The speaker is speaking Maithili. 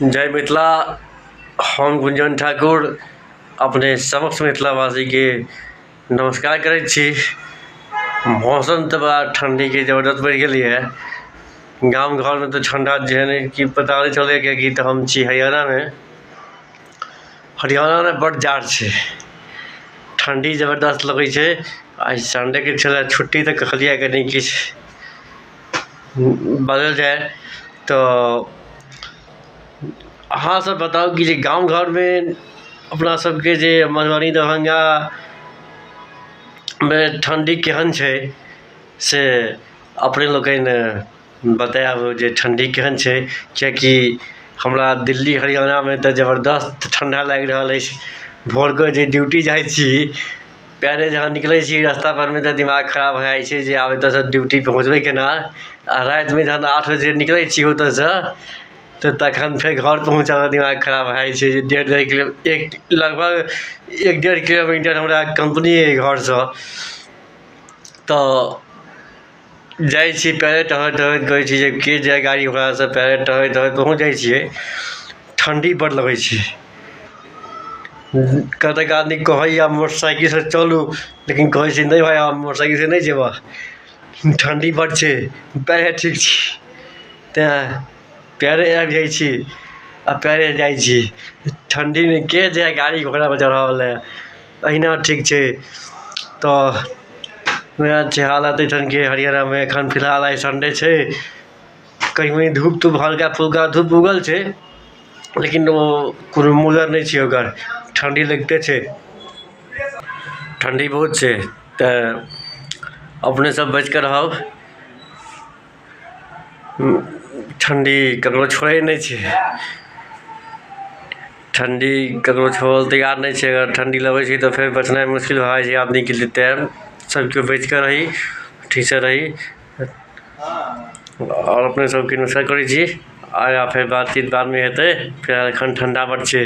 जय मिथिला हम गुंजन ठाकुर अपने समक्ष मिथिलावासीके नमस्कार करै छी मौसम तऽ बड़ा ठण्डीके जबरदस्त बढ़ि गेलै हँ गाम घरमे तऽ ठण्डा जेहने कि पता नहि चलैए किएकि तऽ हम छी हरियाणामे हरियाणामे बड्ड जाड़ छै ठण्डी जबरदस्त लगै छै आइ सन्डेके छलै छुट्टी तऽ कहलिए कनि किछु बदलि जाइ तऽ अहाँ सब बताउ कि जे गाँव घरमे अपना सबके जे मधुबनी दरभंगामे ठण्डी केहन छै से अपने लोकनि बतायब जे ठण्डी केहन छै किएकि हमरा दिल्ली हरियाणामे तऽ जबरदस्त ठण्डा लागि रहल अछि भोरके जे ड्यूटी जाइ छी पयरे जहाँ निकलै छी रस्ता परमे तऽ दिमाग खराब भए जाइ छै जे आब एतऽसँ ड्यूटी पहुँचबै केना आओर रातिमे जहन आठ बजे निकलै छी ओतऽसँ तऽ तखन फेर घर पहुँचऽमे दिमाग खराब भए जाइ छै जे डेढ़ डेढ़ किलो एक लगभग एक डेढ़ किलोमीटर हमरा कम्पनी अइ घरसँ तऽ जाइ छी पहिले टहलैत टहलैत कहै छी जे के जाइ गाड़ी घोड़ासँ पहिले टहलैत टहलैत पहुँच जाइ छियै ठण्डी बड़ लगै छै कतेक आदमी कहैए मोटरसाइकिलसँ चलू लेकिन कहै छै नहि भाय हम मोटरसाइकिलसँ नहि जेबह ठण्डी बड़ छै पएरे ठीक छी तेँ पएरे आबि जाइ छी आ पएरे जाइ छी ठण्डीमे के जाइ गाड़ी घोड़ापर चढ़यवला अहिना ठीक छै तऽ वएह छै हालत एहिठाम के हरियाणामे एखन फिलहाल आइ सन्डे छै कनी मनी धूप तूप हल्का फुल्का धूप उगल छै लेकिन ओ कोनो मूलर नहि छै ओकर ठण्डी लगिते छै ठण्डी बहुत छै तऽ अपने सब बचिके रहब ठण्डी ककरो छोड़ै नहि छै ठण्डी ककरो छोड़ै लए तैयार नहि छै अगर ठण्डी लगै छै तऽ फेर बचनाइ मुश्किल भए जाइ छै आदमीके लिए तैँ सभ केओ बचि कऽ रही ठीकसँ रही आओर अपने सभके नमस्कार करै छी आगाँ फेर बातचीत बादमे हेतै फिलहाल एखन ठण्डा बड़ छै